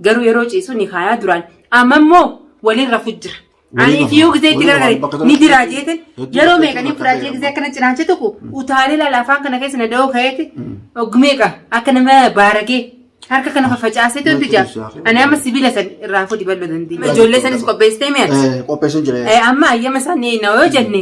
Garuu yeroo ciisu ni kaayaa duraan. Amma immoo waliin rafu jira. Waliin Ani rafu. fiyuu gisee itti Waliin rafu. gargare Bakka tokko ni jira tokko jeete hedduu yeroo bakka meeqa ni tokko fudhaa jee ta'e gisee akkana cinaacha tokko utaalee laala afaan kana keessa na da'oo ka'eeti oggu meeqa akka nama baaragee harka kana fafacaasee toltu jaa. Ani amma sibiila san irraa fudhi ballo dandii. Ijoollee sanis qopheessitee mi'a. Eh, Qopheessuun jira. Eh, amma ayyama isaanii na yoo jenne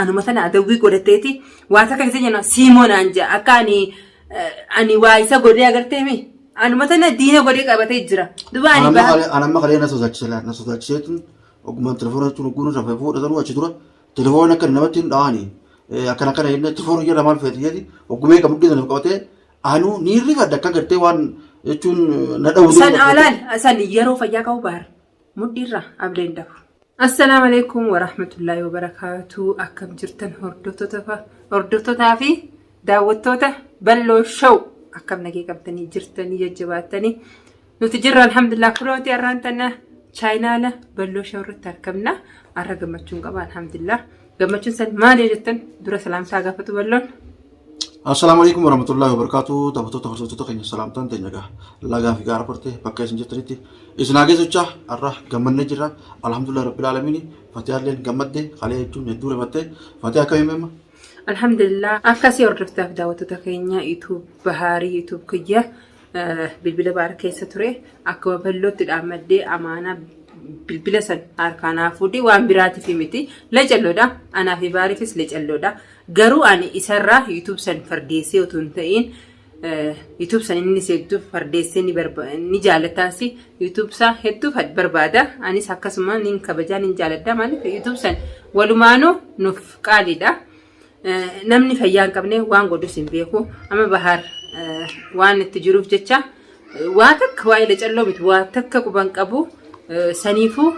Anuma tana adawwii godhatteeti waa takka isa jenna siimoo naan jaa akka ani ani waa isa godhee agartee mi anuma tana diina godhee qabatee jira duba ani Anamma baa kalee anamma kalee na sodaachise laa na sodaachisee tun ogummaan telefoona jechuun ogguun irraa fayyaa fuudha sanuu achi dura telefoona akka namatti hin dhawaani akkana akkana jennee itti foorri jedha maal feeti jedhi oggumee kan mudhii sana qabatee anuu ni rifadha akka gartee waan jechuun na dhawuu san alaan san yeroo fayyaa qabu baar mudhiirra abda hin dhabu. Assalaamu alaikum warahmatullaahi wabarakaatuu akkam jirtan hordoftotaa fi daawwattoota balloo show akkam nagee qabdanii jirtanii jajjabaattanii nuti jirra alhamdulillah kunooti har'aan tana chaayinaala balloo show irratti argamna har'a gammachuun qaba alhamdulillah gammachuun san maali jettan dura salaamsaa gaafatu balloon Assalaamu alaikum warahmatullahi wabarakatuh. Taphattoota hordoftoota keenya salaamtaan teenya egaa lagaa fi gaara bartee bakka isin jirtanitti isin haa geessichaa har'a gammannee jirra. Alhamdulillah rabbil aalamiin fatiyaalleen gammadde kalee jechuun hedduu rifattee fatiyaa akka himema. Alhamdulillah akkasii hordoftaaf daawwattoota keenya YouTube Bahaarii YouTube kiyya bilbila baar keessa ture akka baballootti dhaammaddee amaanaa bilbila san harkaa naa fuudhee waan biraatiif miti lecalloodha anaa fi baariifis lecalloodha garuu ani isarraa yuutuub san fardeessee utuu hin ta'iin yuutuub san inni seegduuf fardeessee ni barba- ni jaalataasi yuutuub isaa hedduu fa- barbaada anis akkasuma nin kabajaa nin jaaladha maaliif yuutuub san walumaanuu nuuf qaaliidha Namni fayyaa hin qabne waan godhus hin beeku. Amma bahaar waan itti jiruuf jecha waa takka waa'ee lacalloo miti waa takka quban qabu saniifuu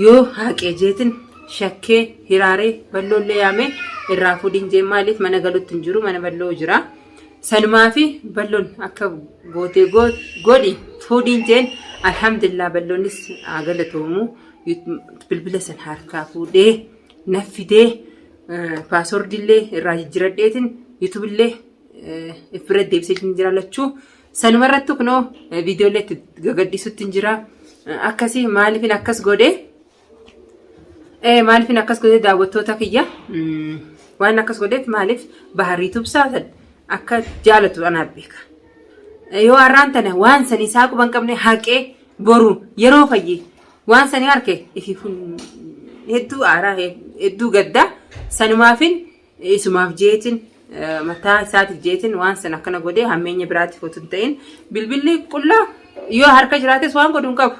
yoo haaqee jeetin shakkee hiraaree balloollee yaamee irraa fuudhin jee maaliif mana galutti hin jiru mana balloo jira. Sanumaa fi balloon akka gootee godhi fuudhin jeen alhamdulillah balloonnis haa galatoomu bilbila san harkaa fuudhee naffidee. Paaswordii illee irraa jijjiradheetiin YouTube illee ifirra deebisee hin jira lachuu. Sanuma irratti kunoo viidiyoo illee itti gagadhiisutti hin jira. Akkasii maaliifin akkas godhee maaliifin akkas godhee daawwattoota kiyya waan akkas godheef maaliif bahar YouTube saatan akka jaalatu anaaf beeka. Yoo har'aan tana waan sanii isaa quban qabne haqee boru yeroo fayyee Waan sanii arke ifiifun hedduu aaraa hedduu gadda sanumaafin isumaaf jeetin eh, mataa isaatiif jeetin waan san akkana godhee hammeenya biraatiif otuu hin ta'in bilbilli qullaa yoo harka jiraates waan godhu hin qabu.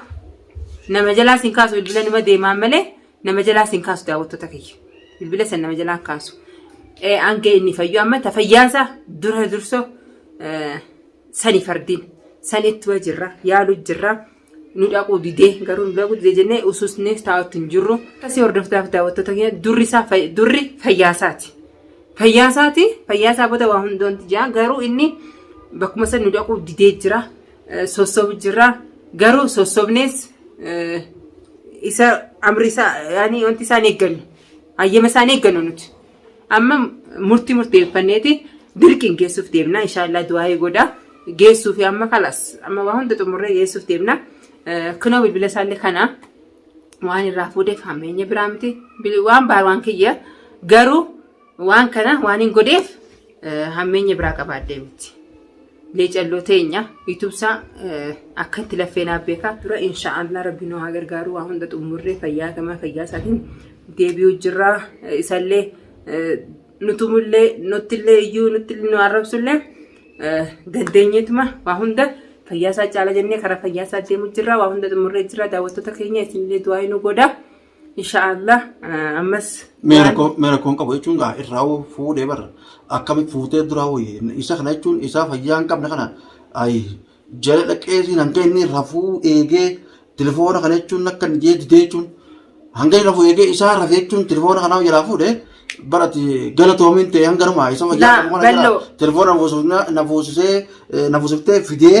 Nama jalaa sin kaasu bilbila nima deemaan malee nama jalaa sin kaasu daawwattoota kiyya. Bilbila san nama jalaa hin kaasu. Eh, Hanga inni fayyu amma ta fayyaansa dura durso eh, sani fardiin san itti jirra yaalu jirra. nu dhaquu didee garuu nu dhaquu didee jennee ususneef taa'utti hin jirru. Akkasii hordoftaaf daawwattoota keenya durri isaa durri fayyaasaati. Fayyaasaati fayyaasaa booda waa hundoonti jira garuu inni bakkuma sana nu dhaquu didee jira sossobu jira garuu sossobnees isa amri isaa yaani wanti isaan eeggannu hayyama isaan eeggannu nuti. Amma murtii murteeffanneeti dirqiin geessuuf deemna. Inshaallah du'aa'ii godha. Geessuu fi amma kalas amma waa hunda xumurree geessuuf deemna. Kunoo bilbila isaallee kana waan irraa fuudheef hammeenya biraa miti. Waan baar waan kiyya garuu waan kana waan hin godheef hammeenya biraa qabaadhee miti. Leecalloo teenya yuutubsaa akka itti laffee naaf beekaa dura inshaa Allah rabbi nu haa gargaaru waa hunda xumurree fayyaa gamaa fayyaa isaatiin deebi'uu jirra isallee nutumullee nuttillee iyyuu nutti nu arrabsullee dandeenyeetuma waa hunda fayyaa isaa caala jennee karaa fayyaa isaa deemu jirra waa hunda xumurree jirra daawwattoota keenya isinillee du'aa nu godha. Inshaallah ammas mee rakkoo mee rakkoon qabu jechuun gaa irraa hoo fuudhee barra akkami fuutee duraa hoo isa kana jechuun isaa fayyaa hin qabne kana ayi jala dhaqeesii hanga inni rafuu eegee telefoona kana jechuun akka hin jee didee jechuun hanga inni rafuu eegee isaa rafee jechuun telefoona kanaa jalaa fuudhee barati gala toomiin ta'e hanga namaa isa fayyaa Laa, qabu kana jala balloo. telefoona na fuusisee na fuusiftee fidee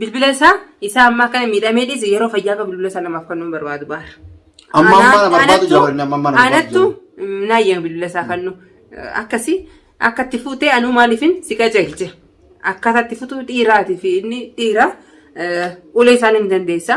Bilbila isaa isaa ammaa kana miidhamee dhiise yeroo fayyaa qabu bilbila isaa namaaf kennuu hin barbaadu baar. Amma amma na barbaadu jawari amma amma na barbaadu. Anattu naayya bilbila isaa kennu akkasi akka itti fuutee anuu maaliifin si qajeelche akkaataa itti futu dhiiraati fi inni dhiira ulee isaanii ni dandeessa.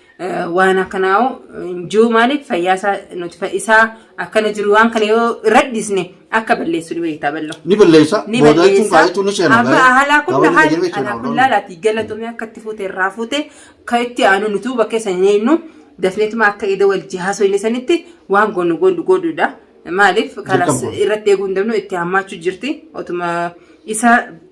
waan akkanaa jiru maaliif fayyaa isaa nuti isaa akkana jiru waan kana yoo irra dhiisne akka balleessu ni beektaa ballo. Ni balleessa. Ni Booda jechuun balleessa. kaa'eetu ni seena. Amma haalaa kun Gabaabina haal jedhame jechuudha. alaa kun laalaati galatomee akka itti fuute irraa fuute ka itti aanu nuti huba keessa hin eenyu dafneetuma akka ida wal jihaasoo inni sanitti waan goonu goonu godhuudha. Maaliif kalas Dirqama. irratti eeguu hin dandeenyu itti hammaachuu jirti otuma isa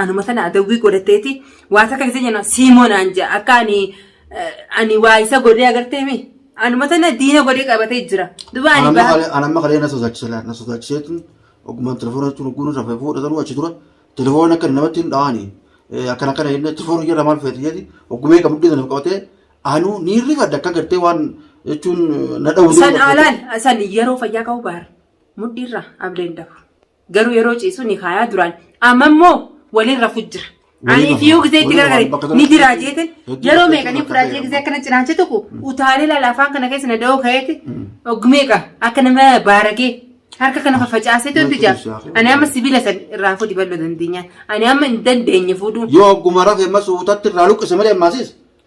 Anuma sana adawwii godhatteeti waa takka keessa jenna siimoo naan jaa akka ani ani waa isa godhee agartee mi anuma sana diina godhee qabatee jira duba ani Anamma baha kalee anamma kalee na sodaachise laa na sodaachisee tun ogummaan telefoona jechuun ogguun irraa fayyu fuudha sanuu achi dura telefoona akka namatti hin dhawaani akkana akkana jennee telefoona jedha maal feeti jedhi oggumee kan mudhii sana qabatee anuu ni rifadha akka gartee waan jechuun na dhawuu san alaan san yeroo fayyaa qabu baar mudhiirra abdeen dafu Garuu yeroo ciisu ni kaayaa duraan. Amma immoo waliin rafu jira. Waliin Ani rafa. fiyuu gisee itti Waliin rafa. gargare. Bakka tokko Ni jira keessatti jeetin. hedduu Yeroo bakka meeqanii tokko fudhaatee keessatti gisee akkana cinaanchi tokko utaalee laala afaan kana keessa na da'oo ka'eeti. Ogmeeqa akka nama baaragee harka kana fafacaasee toltu Natti jira. ibsaa. Ani amma sibiila san irraa fuudhi bal'oo dandeenyaan. Ani amma hin dandeenye fuudhuu. Yoo ogguma rafe amma suutatti irraa luqqise malee ammaasiis.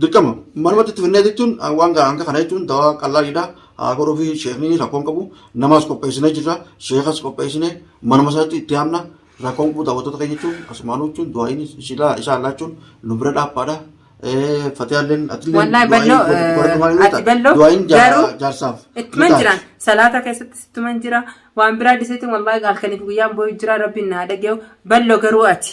Dirqama manumatti itti finnee jechuun waan gaa hanga kana jechuun dawaa qallaaliidha. Haa godhuu fi sheekni rakkoon qabu namaas qopheessinee jirra. Sheekas qopheessinee manuma isaatti itti aanna rakkoon qabu daawwattoota keenya jechuun asumaanuu jechuun du'aayin ishilaa isaan laachuun nu bira dhaabbaadha. Fatiyaalleen atillee Wallahi balloo, godhatu maal ati balloo, du'aayin garuu jaarsaaf. Ittuman jira. Salaata keessatti ittuman jira. Waan biraa dhiseetiin wallahi halkaniif guyyaan booyu jira rabbiin naa dhageewu. Balloo garuu ati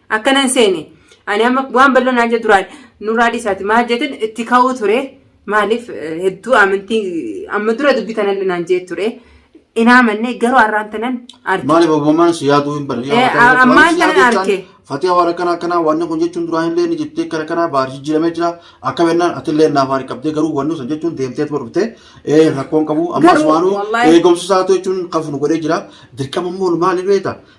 Akkana hin seene. Ani amma waan bal'oo naan jedhu duraan nurraa dhiisaati maal jeetin itti ka'uu ture. Maaliif hedduu amantii amma dura dubbii tanan naan jee ture. Hin amanne garuu har'aan tanan arge. Maaliif abbummaan si yaaduu hin banne. Eh, ammaan kana arge. Fatiyaa waan akkanaa akkanaa waan kun jechuun duraan illee ni jettee kara kanaa baar jijjiiramee jira. Akka bennaan ati illee naaf haari qabdee garuu wanni sun jechuun deemtee tuma dhuftee eh, rakkoon qabu. Ammas Garuu, waanuu wallahi- eegumsa isaatu jechuun kan funu godhee jira. Dirqama immoo maali beekta?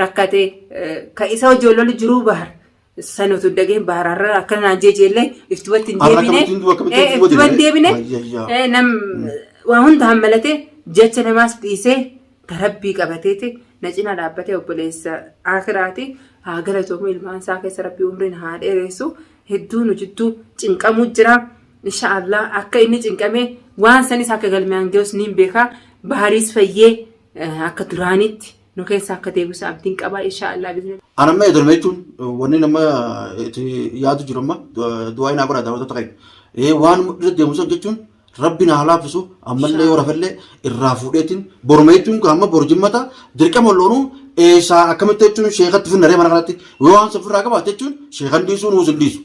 rakkate ka isa hojii lolu jiruu bahar san utuu dhageen bahar har'a akka naan jeejeellee iftubatti hin Har'a deebine akkamitti- akkamitti Eh, iftubatti iftubatti deebine? deebine Wayyayyaa. Eh, nam waa hunda hammalatee jecha namaas dhiisee tarabbii qabateeti na cinaa dhaabbatee obboleessa akiraati haa galatoomu ilmaan isaa keessa rabbii umriin haa dheeressu hedduu nu jidduu cinqamuu jira inshaallah akka inni cinqamee waan sanis akka galmaan ga'us niin beeka bahariis fayyee eh, akka duraanitti nu keessa akka deebisu abdiin qaba insha Allah bizni An amma eegalame jechuun wanni nama itti yaadu jiru amma du'aa hin abara daawwattoota keenya. Ee waan irra deemu san jechuun rabbi na haa laaffisu ammallee yoo rafallee irraa fuudheetiin boruma jechuun kan amma boru jimmata dirqama loonuu eessaa akkamitti jechuun sheekatti finnaree mana kanatti yoo waan safirraa qabaate jechuun sheekan dhiisuu nuus hin dhiisu.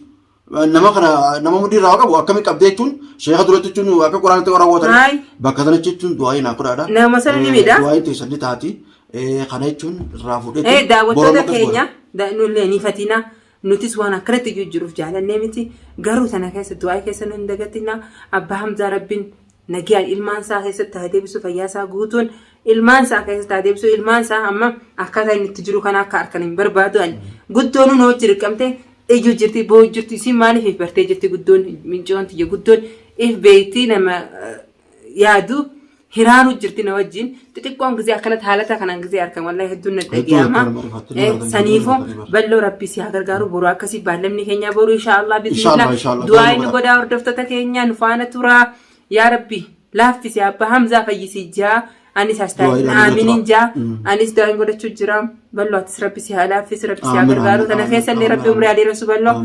nama kana nama mudii irraa qabu akkami qabdee jechuun sheeka duratti jechuun akka quraanatti warra gootan Haay. bakka sana jechuun du'aayi naa godhaadha. Nama sana ni miidha. Du'aayi teessan ni taati. Eh, Kana jechuun irraa fuudhee Eh, jechuun daawwattoota boroma keessa keenya da- nullee ni fatina nutis waan akkanatti jijjiiruuf jaalannee miti garuu sana keessa du'aa keessa nu hin dagatina abbaa hamzaa rabbiin Nagiyaan ilmaan isaa keessatti haa deebisu fayyaa isaa guutuun ilmaan isaa keessatti haa deebisu ilmaan isaa amma akkaataa inni itti jiru kana akka arkan hin barbaadu ani guddoon nu hojii dirqamte iyyu jirti boo jirti isin maaliif if bartee jirti guddoon mincoon tiyya guddoon if beekti nama yaadu hiraaru jirti na wajjin xixiqqoon gizee akkanatti haalata kanaan gizee arkan wallahi hedduun na dhaga'ama. Saniifoo balloo rabbii si haa gargaaru boruu akkasii baallamni keenya boruu inshaallah bismillah du'aa inni godhaa hordoftoota keenya nu faana turaa yaa rabbi laaffisi abba hamzaa fayyisi jaa anis astaayina aaminin jaa anis du'aa inni godhachuu jira balloo atis rabbi si haa laaffisi rabbi si haa gargaaru kana keessa illee rabbi umrii haa dheeressu balloo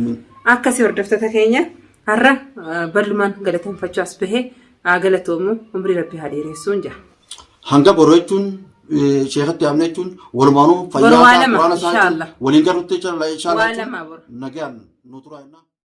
akkasii hordoftoota keenya har'a ballumaan galateeffachuu as bahee Haa galatoomu umrii rabbi haa dheeressuun jaa. Hanga boru jechuun eh, sheekatti yaamne jechuun walumaanuu Boru fayyaa waa isaa lama, quraana isaa inshallah. waliin garrutti inshallah Waa inshallah lama boru. nagaan nu turaa jennaa.